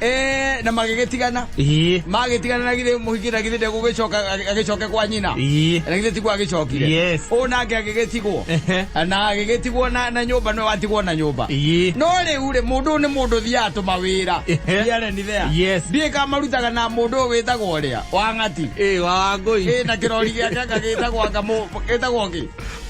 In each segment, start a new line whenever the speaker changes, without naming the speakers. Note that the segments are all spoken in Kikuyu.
Eh, na magĩgĩtigana Ii. magĩtigana na githĩ mũhikĩra githĩ ndegũgĩcoka agĩcoke kwa nyina Ii. na githĩ tigwo agĩcokire Yes. ũũ nake agĩgĩtigwo Ehe. na agĩgĩtigwo na, na nyũmba nĩwe watigwo na nyũmba Ii. no rĩu rĩ mũndũ ũyũ nĩ mũndũ thiaga tũma wĩra Ehe. thiarenithea Yes. ndiĩ kamarutaga na mũndũ ũyũ wĩtagwo ũrĩa wa ng'ati Ĩ, wa wangũi ĩ
na kĩrori gĩake
anga gĩtagwo anga mũ- gĩtagwo kĩ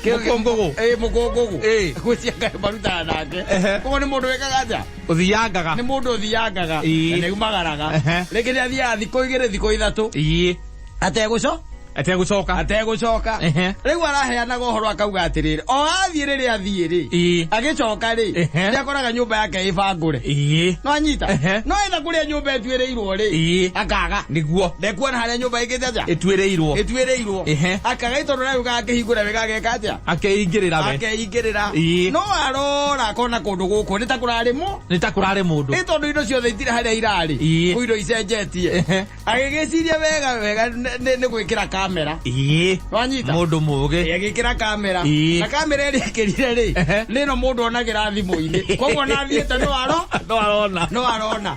Kĩ- Mũkũngũgũ. ĩ mũkũngũgũ Ĩ. gwĩcianga marutaga nake Ehe. koguo nĩ mũndũ wĩkaga atĩa Ũthiangaga. nĩ mũndũ
ũthiangaga
Ĩĩ. na nĩaumagaraga Ehe. rĩngĩ nĩ athiaga thikũ igĩrĩ thikũ ithatũ Ii. ategũco Ategũcoka. ategũcoka Ehe. rĩu araheanaga ũhoro akauga atĩrĩrĩ o athiĩ rĩrĩa athiĩ rĩ Ii. agĩcoka rĩ Ehe. nĩ akoraga nyũmba yake ĩbangũre Ii. no anyita Ehe. no etha kũrĩa nyũmba ĩtuĩrĩirwo rĩ Ii. akaga Nĩguo. ndekuona
harĩa nyũmba
ĩngĩte atĩa Ĩtuĩrĩirwo. ĩtuĩrĩirwo
Ehe. akaga itondũ
nayo gagakĩhingũra wega ageka atĩa Akeingĩrĩra we. Akei-
ingĩrĩra Ii. no
arora akona kũndũ gũkũ nĩ ta kũrarĩ mũ nĩ ta kũrarĩ mũndũ nĩ tondũ indo ciothe itirĩ harĩa irarĩ Ii. kũ indo icenjetie Ehe. agĩgĩciria wega wega nĩ- nĩ nĩ gwĩkĩra kamera ĩĩ wanyita mũndũ mũgĩ
agĩkĩra kamera
Ii. na kamera ĩrĩa ĩkĩrire rĩ Ehe. nĩno mũndũ onagĩra thimũ-inĩ koguo nathiĩte no aro no arona no arona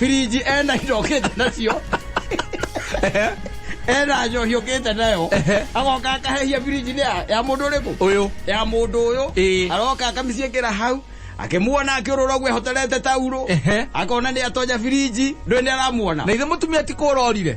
Birinji ena indo okĩte nacio Ehe. ena njohi ũkĩte nayo Ehe. agoka akahehia birinji ya ya mũndũ ũrĩkũ Ũyũ. ya mũndũ ũyũ Ĩĩ. aroka akamĩciĩkĩra hau akĩmuona akĩũrũra ũguo ehoterete tauro Ehe. akona nĩ atonya birinji ndũĩ nĩ aramuona Na ithe mũtumia ti
kũrorire.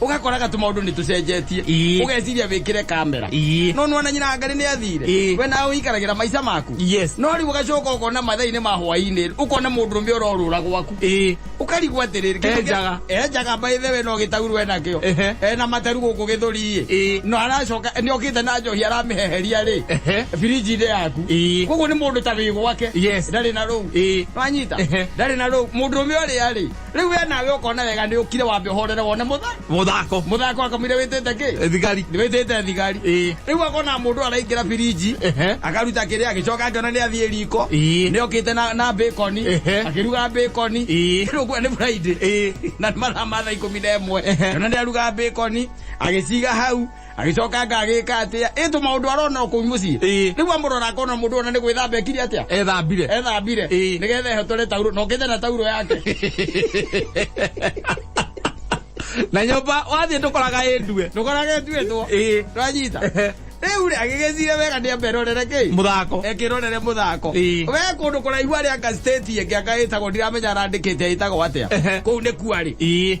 ugakoraga tu maundu ni tucenjetie Ii. ugeciria wikire kamera Ii. no nwana nyina ngari ni athire Ii. we nawe uikaragira maica maku Yes. no riu ugacoka ukona mathaini ma hwaini ukona mundu rume urorura gwaku Ii. ukarigwo atiriri kĩndũ kĩa- Enjaga. enjaga mbaithe we no gĩtauru we nakĩo Ehe. ena materu gũkũ gĩthũri-ĩ Ii. no aracoka nĩ okĩte na njohi aramĩheheria rĩ Ehe. birinji-inĩ yaku Ii. koguo nĩ mũndũ ta wĩ gwake Yes. ndarĩ na rũu Ii. wanyita Ehe. ndarĩ na rũu mũndũ ũmwe ũrĩa rĩ riu we nawe ukona wega ni ukire wambe uhorere wone mutha muthako muthako akamwire witite ki Eh, thigari ni witite
thigari Eh.
riu akona mundu araingira biriji Ehe. akaruta kiria agicoka akiona ni athie riko Eh. ni okite na na bacon Ehe. akiruga bacon Eh. riu kwa ni friday Eh. na nĩ mathaa ma thaa ikũmi na ĩmwe Ehe. ona nĩ aruga bacon agĩciga hau agĩcoka ngagĩka atĩa ĩ tũ maũndũ arona kũu mũciĩ Ĩĩ. rĩu amũrora akona mũndũ ona nĩ gwĩthamba ekire atĩa ethambire ethambire Ĩĩ. nĩgetha ehotore tauro na ũkĩthe na tauro yake
na nyũmba wathiĩ ndũkoraga ĩ ndue ndũkoraga ĩtuĩtwo Ĩĩ.
twanyita rĩu rĩ agĩgĩcire wega nĩ amberorere kĩi mũthako ekĩrorere
mũthako
Ĩĩ. we kũndũ kũraihu arĩ anga state ĩngĩ anga ĩtagwo ndiramenya arandĩkĩte ĩtagwo atĩa Ehe. kũu nĩ kuarĩ ii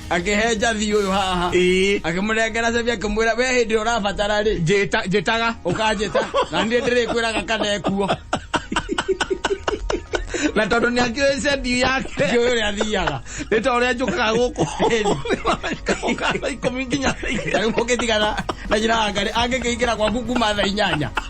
akĩhe njathi ũyũ haha Ĩĩ. akĩmũnengera cebi akĩmwĩra we hĩndĩ ĩrĩa ũrabatara rĩ Njĩta- njĩtaga
ũkanjĩta na
niĩ ndĩrĩkwĩraga kana ekuo
na tondå nä angä cendi yake ũyũ ũrĩa athiaga
nä ta å rä a njå kaga
gå kå ikå mi nginya thaa igĩrĩ. rĩu mũkĩtigana
na njĩra wa ngarĩ angĩkĩingĩra gwaku kuma thaa inyanya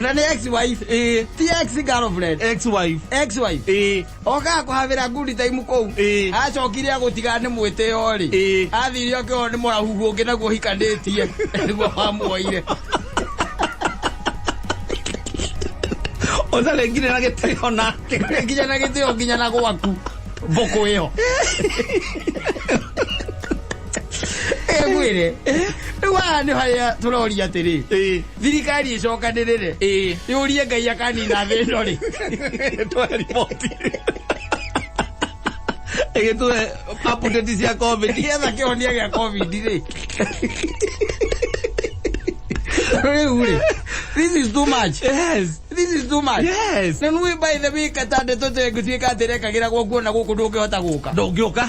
na nä ex wife ĩĩ ti ex girlfriend ex wife ex wife
ĩĩ oka
kũhavĩra ngundi taimu kũu Ĩĩ. acokire agũtiga nĩ mwĩtĩo rĩ Ĩĩ. athire akĩona nĩ mũrahuhu ũngĩ naguo hikanĩtie nĩguo wamuoire
ũtharengire na gĩtĩo nake nginya na gĩtĩo nginya
na gwaku mbũkũ ĩyo ĩgwĩre rĩu haha nĩ harĩa tũroria atĩrĩ ĩĩ thirikari ĩcokanĩrĩ rĩ Ĩĩ. yũrie ngai akanina thĩ ĩno rĩ tũhe
riboti ĩgĩtũhe update cia covid getha kĩhonia gĩa
covid rĩ rĩu rĩ this is too much yes this is
too much
yes na nui by
the way
katande tũtengũtuĩka atĩ rekagĩra gwakuona gũkũ ndũngĩhota gũka ndũngĩũka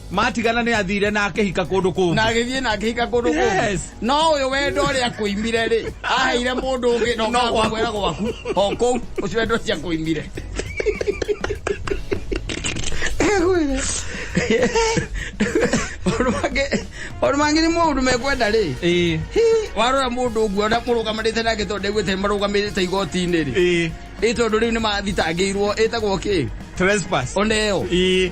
Maatigana nĩ
athiire na akĩhika kũndũ kũngĩ. Na agĩthiĩ na akĩhika
kũndũ kũngĩ. Yes. No ũyũ wendo ũrĩa akũimire rĩ, aheire mũndũ ũngĩ na No ũkaga gwaku. kũmwĩra gwaku. O kũu ũcio wendo ũcio akũimire. Maũndũ mangĩ- maũndũ mangĩ nĩ mũndũ mekwenda rĩ. Ĩĩ. Hi, warora mũndũ ũguo na mũrũgamĩrĩte nake tondũ ndaiguĩte marũgamĩrĩte igoti-inĩ rĩ. Ĩĩ. Ĩ tondũ rĩu nĩ mathitangĩirwo ĩtagwo kĩ? Trespass. Oneo.
Ĩĩ.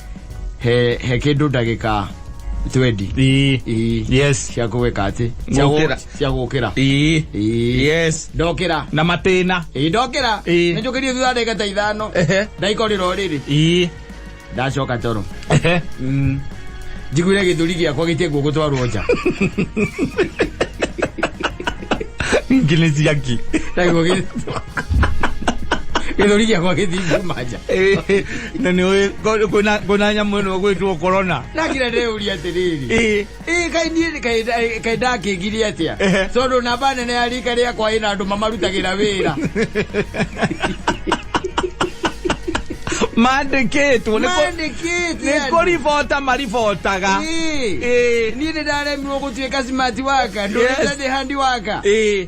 he he kindu ndagika 20 Ii. Ii. Yes. cia
kuweka ati
Cia gu- Gũkĩra. cia gukira Ii. Ii. Yes.
ndokira Na
matĩna.
ii ndokira Ii.
ninjukirie thutha ndagika ta ithano Ehe. ndaikorira uriri Ii. ndacoka toro Ehe. njiguire githuri giakwa gitie guo gutwarwo nja
Nginya ciaki. ndaiguo
githuri giakwa githii kuma nja Eh, na nä
å kwä na nyamå ä no gwä two korona nagira ndeuria
atiriri Ĩĩ. ii kai niĩ kai- kai- kai ndakĩngire atĩa Ehe. tondũ namba nene ya rika rĩakwa ĩna andũ mamarutagĩra wĩra
mandä kä two nä mandĩkĩte kå ribota maribotaga Ĩĩ.
Ĩĩ. niĩ nĩ ndaremirwo gũtuĩka simati waka Yes. ndũrĩte ndĩ handi waka Ĩĩ.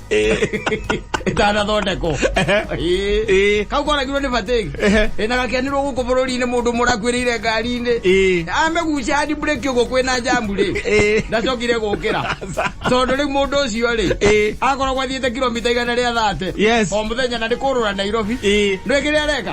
ĩtanathondekwo Ĩĩ. kau konagirwo nĩ batĩgi ĩ na gakenirwo gũkũ bũrũri-inĩ mũndũ mũrakuĩrĩire ngari-inĩ amegucia handi mburĩki ũguo kwĩna njamu rĩ ndacokire gũkĩra tondũ rĩu mũndũ ũcio rĩ akoragwo athiĩte kilomita igana rĩa thate Yes. o mũthenya na nĩ kũrũra nairobi rĩngĩ rĩa reka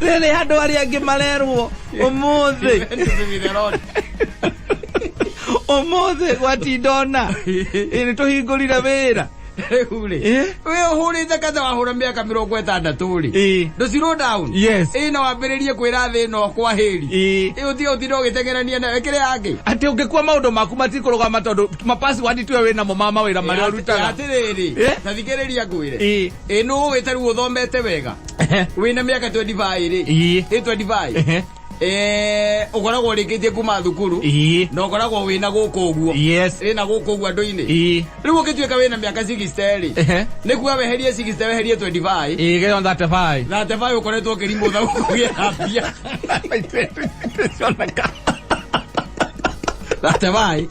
rĩrĩ andũ arĩa angĩ marerwo ũmũthĩ ũmũthĩ gwatindona nĩ tũhingũrire wĩra rĩurĩ
Eh? we ũhũrĩte katha wahũra mĩaka mĩrongo ĩtandatũ rĩ Eh. ndũ zero down Yes. ĩ na wambĩrĩrie kwĩra thĩ ĩno kwa hĩri Eh. ĩ ũthiĩ ũtinde ũgĩteng'erania nayo kĩrĩa yangĩ atĩ ũngĩkua maũndũ
maku matikũrũgama tondũ mapasiwadi tuwe wĩ namo ma mawĩra marĩa ũrutaga atĩrĩrĩ Eh?
tathikĩrĩria ngwĩre Eh. Ĩ nũ ũgĩte rĩu ũthomete wega Ehe. wĩna mĩaka 25 rĩ Ii. ĩ 25 Ehe. Eh, ũkoragwo ũrĩkĩtie kuma thukuru Ii. na ũkoragwo wĩna gũkũ ũguo Yes. ĩna gũkũ ũguo andũ-inĩ Ii. rĩu ũkĩtuĩka wĩna mĩaka 60 rĩ Ehe. nĩ kuga weherie 60 weherie 25 Ii, get on that five.
na tebaĩ ũkoretwo ũkĩrimũtha
kũgĩa mbia Cioneka. na tebaĩ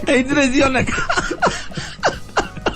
Itirĩ
cioneka.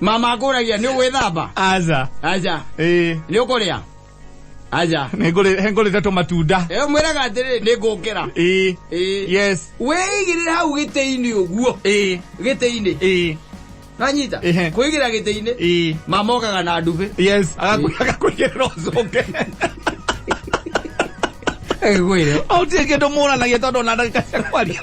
mama ngũragia nĩ ũgwĩthamba aza aja
ĩĩ
nĩ ũkũrĩa aja hengũrĩte
tũmatunda ĩyo mwĩraga atĩrĩ
nĩ ngũkĩra ĩĩ Ĩĩ. yes
wĩigĩrĩre
hau gĩtĩ-inĩ ũguo ĩĩ gĩtĩ-inĩ ĩĩ nanyita Ehe. kwĩigĩra gĩtĩ-inĩ ĩĩ mama okaga na ndumbĩ yes agakũigĩrĩra
ũcoke
agĩkwĩre au tirä kä ndå må
ranagia tondå ona ndagä ka cia kwaria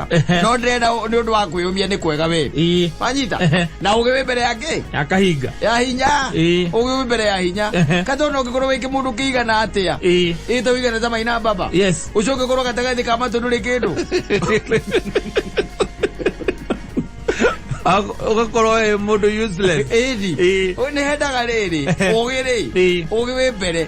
Ehe. no ndĩrenda nĩ ũndũ wa kwĩyũmia nĩ kwega wĩ Ĩĩ. wanyita Ehe. na ũgĩ wĩ mbere ya kĩ akahinga ya hinya Ĩĩ. ũgĩ wĩ mbere ya hinya Ehe. katona ũngĩkorwo wĩ kĩmũndũ kĩigana atĩa Ĩĩ. ĩta ũigana ta maina baba Yes. ũcio ũngĩkorwo gatagatĩ ka matũ ndũrĩ kĩndũ
ugakorwo ä må ndå useless ĩni Ĩĩ. nĩ
hendaga rĩrĩ ũgĩ rĩ Ĩĩ. ũgĩ wĩ mbere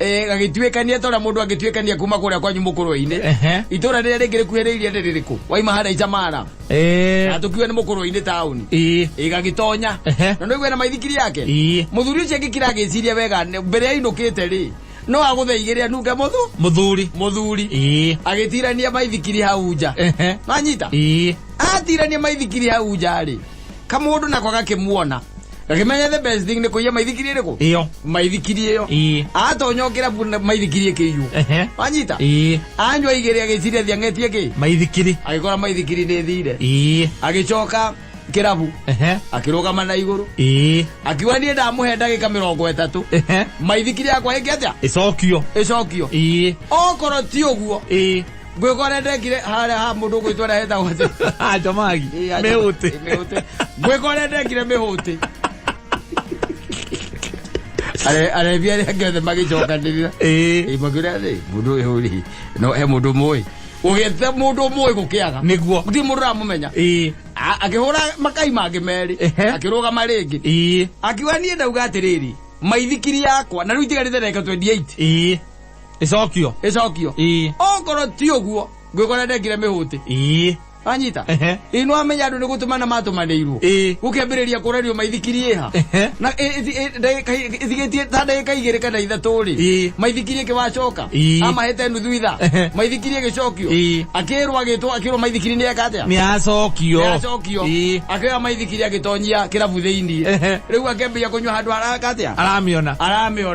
eh, gagĩtuĩkania ta ũrĩa mũndũ angĩtuĩkania kuma kũrĩa kwanyu mũkũrũi-inĩ Ehe. itũra rĩrĩa rĩngĩ rĩkuhĩrĩirie nĩ rĩrĩkũ waima harĩa icamara Eh, na tũkiuga nĩ mũkũrũi-inĩ taũni ii. igagĩtonya Ehe. na nĩguo na maithikiri yake Ii. mũthuri ũcio agĩkira agĩciria wega nĩ- mbere ya inũkĩte rĩ no agũtheigĩre anunge mũthu Mũthuri. mũthuri Ii. agĩtirania maithikiri hau nja Ehe. nanyita Ii. atirania maithikiri hau nja rĩ kamũndũ nako gakĩmuona Gakimenya the best thing ni kuiya maithikiri riku. Iyo. Maithikiri iyo. Ii. Atonya ukira buna maithikiri ikiyu. Ehe. Wanyita. Ii. Anywa igiri agiciria thiangetie ki. Maithikiri. Agikora maithikiri ni thire. Ii. Agicoka kirabu. Ehe. Akirugama na iguru. Ii. Akiwa nie ndamuhe ndagika mirongo itatu. Ehe. Maithikiri yakwa iki atia? Icokio. Icokio. Ii. Okorwo ti uguo. Ii. ngwĩkwa rĩa ndekire harĩa ha mũndũ gwĩtwa rĩa hetagwo atĩ jamagi
mĩhũtĩ mĩhũtĩ ngwĩkwa
rĩa ndekire mĩhũtĩ Are- arebi arĩa angĩ othe magĩcokanĩrĩra Ĩĩ. makĩũria atĩ mũndũ ũyũ rĩ no he mũndũ mũĩ ũgĩte mũndũ mũĩ gũkĩaga Nĩguo. gũtirĩ mũndũ ũramũmenya Ĩĩ. A- akĩhũra makai mangĩ merĩ Ehe. akĩrũgama rĩngĩ Ĩĩ. akiuga niĩ ndauga atĩrĩrĩ maithikiri yakwa na rĩu itigarĩte ndagĩka 28 Ĩĩ. icokio ĩcokio ii okorwo ti ũguo ngwĩkora ndekire mĩhũtĩ ii anyita Ehe. ĩ no amenya andũ nĩ gũtũmana matũmanĩirwo Ĩĩ. gũkĩambĩrĩria kũrario maithikiri ĩha Ehe. na ĩ- ĩthi- ĩ- ndagĩka- ĩthigĩtie ta ndagĩka igĩrĩ kana ithatũ rĩ Ĩĩ. maithikiri ĩkĩwacoka Ĩĩ. amahete nuthu itha Ehe. maithikiri ĩgĩcokio Ĩĩ. akĩrwo agĩtwo akĩrwo maithikiri nĩ eka atĩa nä acokio
acokio Ĩĩ. akĩoya
maithikiri agĩtonyia kĩrabu thĩinĩ Ehe. rĩu akĩambĩria kũnyua handũ haraka atĩa aramä ona aramĩona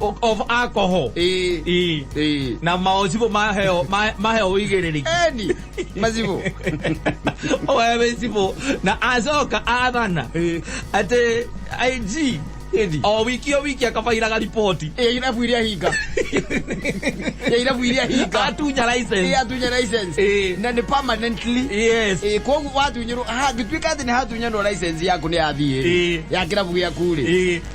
o- of
alcohol Eh, Ĩĩ. eh. na maocibå maheo ma- maheo igä rä rä Eni, mazibu. wewe cibå na acoka athana Eh. atä ig Eni. o wiki o wiki akabairaga riboti Eh, irabu iria hinga.
Eh, irabu iria hinga. atunya Eh, license atunya license. Eh. Na ni permanently. yes Eh, koguo watunyirwo ha gituika ati ni hatunyanwo license yaku ni athiĩ Eh. ya kirabu giaku ri Eh.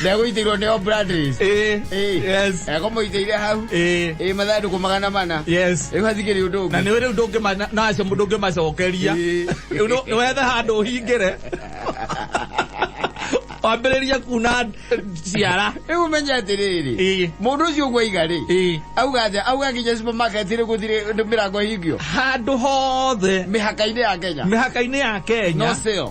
ndegũitĩirwo nĩ obradris Eh, yes. eko mũitĩire hau Eh, ĩ mathandũkũ magana mana yes. rĩu hathikĩrĩ ũndũ na ũngĩ nä rä u ndå ngä
nacio ndå ngä macokeria Ĩĩ. rä u wethe handå å hingä re wambä rä rie kuna ciara rĩu ũmenye
atĩrĩrĩ Ĩĩ. mũndũ ũcio ũguo aiga rĩ Ĩĩ. auga atĩa auga nginya supermarket rĩ gũthirĩ mĩrango ĩhingio handå hothe
mĩhaka-inĩ ya kenya mä
haka-inä ya no kenya sale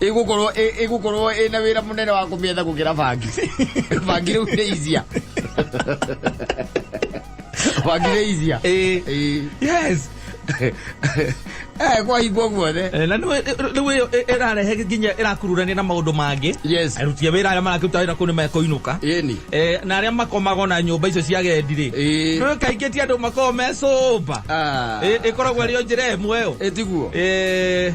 igukorwo ĩ- igukorwo ĩna wĩra mũnene wa kũmĩetha gũkĩra bangi bangi rĩu nĩ izia bangi nĩ izia Ĩĩ. Ĩĩ. yes Eh, kwahingwo guothe Eh, na rĩu ĩyo
ĩrarehe nginya ĩrakururania na maũndũ mangĩ yes aruti a wĩra arĩa mararuta wĩra kũu nĩ mekũinũka ĩni Eh, na arĩa makomago na nyũmba icio cia gendi rĩ Ĩĩ. rĩu kaingĩ ti andũ makoragwo mecũmba Ah. Eh, ĩkoragwo ĩrĩ o njĩra ĩmwe ĩyo ĩtiguo Eh,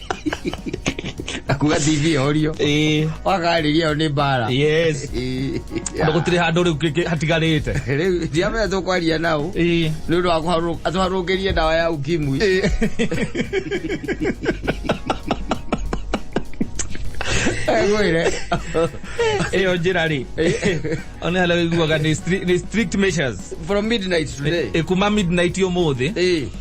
akuga tv orio ĩĩ wakarĩria yo nĩ mbara yes tondũ
gũtirĩ handũ rĩu kĩ- kĩ- hatigarĩte rĩu ndiamenya
tũkwaria nao ĩĩ nä å ndå wa atwarå ngä rie ndawa ya ukimwi gwä re
ĩyo njĩra rĩ ona hala iguaga nĩ stri- nĩ strict measures from midnight
today ĩkuma midnight
ũmũthĩ Ĩĩ.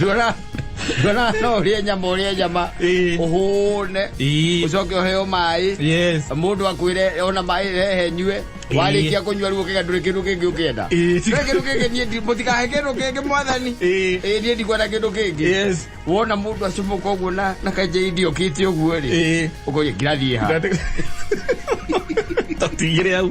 rora rora no urie nyama urie nyama Ĩĩ. uhune Ĩĩ. ucoke uheo mai Yes. mundu akwire ona mai rehe nyue Ĩĩ. warikia kunyua riu ukiga nduri kindu kingi ukienda Ĩĩ. Ndũrĩ kindu kingi nie ndi- mũtikahe kindu kingi mwathani Ĩĩ. Ĩĩ, nie ndikwenda kindu kingi Yes. wona mundu acumuka uguo na na kaja idio kiti uguo ri Ĩĩ. ukoria ngirathie ha
Tatigire hau.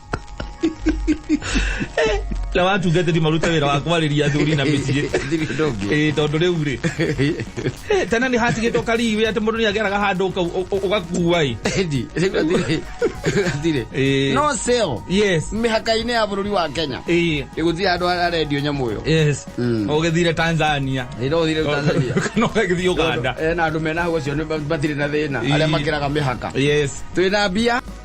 na watungatĩri marute wĩra wa kwarĩria athuri na mĩciĩ Ĩĩ, tondũ rĩu rĩ Eh, tena nĩ hatigĩtwo kariwe atĩ mũndũ nĩ ageraga handũ ũka- ũ- ũ- ũgakua ĩ Edi, rĩu atire-
atire. Ĩĩ. no sale yes mĩhaka-inĩ ya bũrũri wa kenya Ĩĩ, ĩgũthiĩ andũ arĩa arendio nyamũ ĩyo yes Mm. ũgĩthire tanzania ĩra ũthire tanzania kana ũgagĩthiĩ ũganda Eh, na andũ mena hau acio nĩ- matirĩ na thĩna Ĩĩ. arĩa makĩraga mĩhaka yes twĩna mbia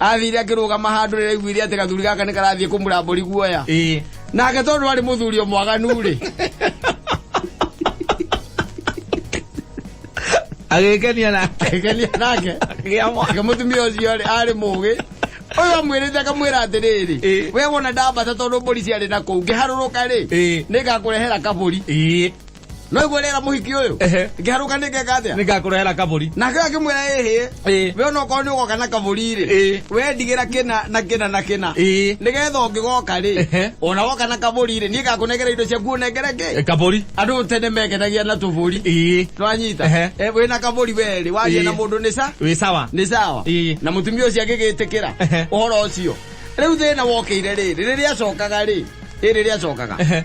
athire akĩrũgama handũ rĩrĩa aiguire atĩ gathuri gaka nĩ karathiĩ kũmũra mbũri guoya ĩĩ nake tondũ arĩ mũthuri o mwaganu rĩ
agĩkenia nake akĩgenia nake
akĩgĩa mwana ake mũtumia ũcio rĩ arĩ mũgĩ ũyũ amwĩrĩte akamwĩra atĩrĩrĩ Ĩĩ. we wona ndambata tondũ mbũri ciarĩ na kũu ngĩharũrũka rĩ Ĩĩ. nĩngakũrehera kabũri ĩĩ no igwe rera muhiki uyu Ehe. ngiharuka ningeka atia nĩngakũrehera kabũri nake
akimwira ĩhĩ
Ĩĩ. we ona okorwo nĩ ũgoka na kabũri-rĩ Ĩĩ. we ndigĩra kĩna na kĩna na kĩna Ĩĩ. nĩgetha ũngĩgoka-rĩ Ehe. ona woka na kabũri-rĩ niĩ ngakũnengera indo ciaku ũnengere Ĩ, kĩ kabũri andũ tene
mekenagia
na tũbũri Ĩĩ. nĩwanyita Ehe. Eh, wĩna kabũri werĩ waria Ĩĩ. na mũndũ nĩ sa wĩ sawa nĩ sawa Ĩĩ. na mũtumia ũcio agĩgĩtĩkĩra Ehe. ũhoro ũcio rĩu thĩna wokĩire rĩrĩ rĩrĩa acokaga rĩ ĩ rĩrĩa acokaga Ehe.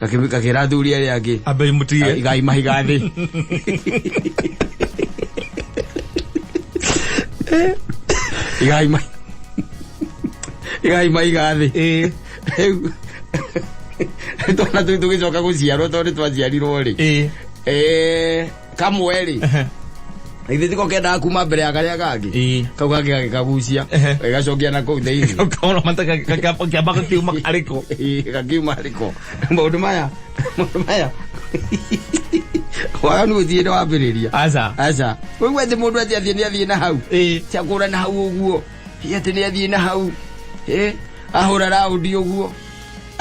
gakira athuri aria angi ambe imutige igai
mahiga thi
igai mai igai mahiga thi riu twana tå gä coka gå ciarwo tondå nä twaciarirwo rä kamwe rĩ Ehe. githĩ tiko kendaga kuma mbere ya karĩa kangĩ Ĩĩ. kau kangĩ gagĩkagucia Ehe. gagacokia na kũu thĩinĩ Ũkaona mata
gakĩamba gakiuma arĩko. Ĩĩ, gakiuma
arĩko maũndũ maya maũndũ maya waganu gũtirĩ nĩ wambĩrĩria Aca. aca ũigua atĩ mũndũ atĩ athiĩ nĩ athiĩ na hau Ĩĩ. cakũra na hau ũguo Hihi atĩ nĩ athiĩ na hau Ĩ, ahũra raundi ũguo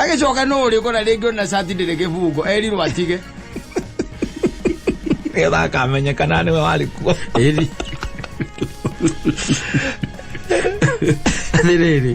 agĩcoka nũ ũrĩkũ na rĩngĩ ona cati ndĩrĩ kĩbungo erirwo atige
nĩgetha akamenyekana nĩwe warĩ kuo ĩri
nĩ rĩrĩ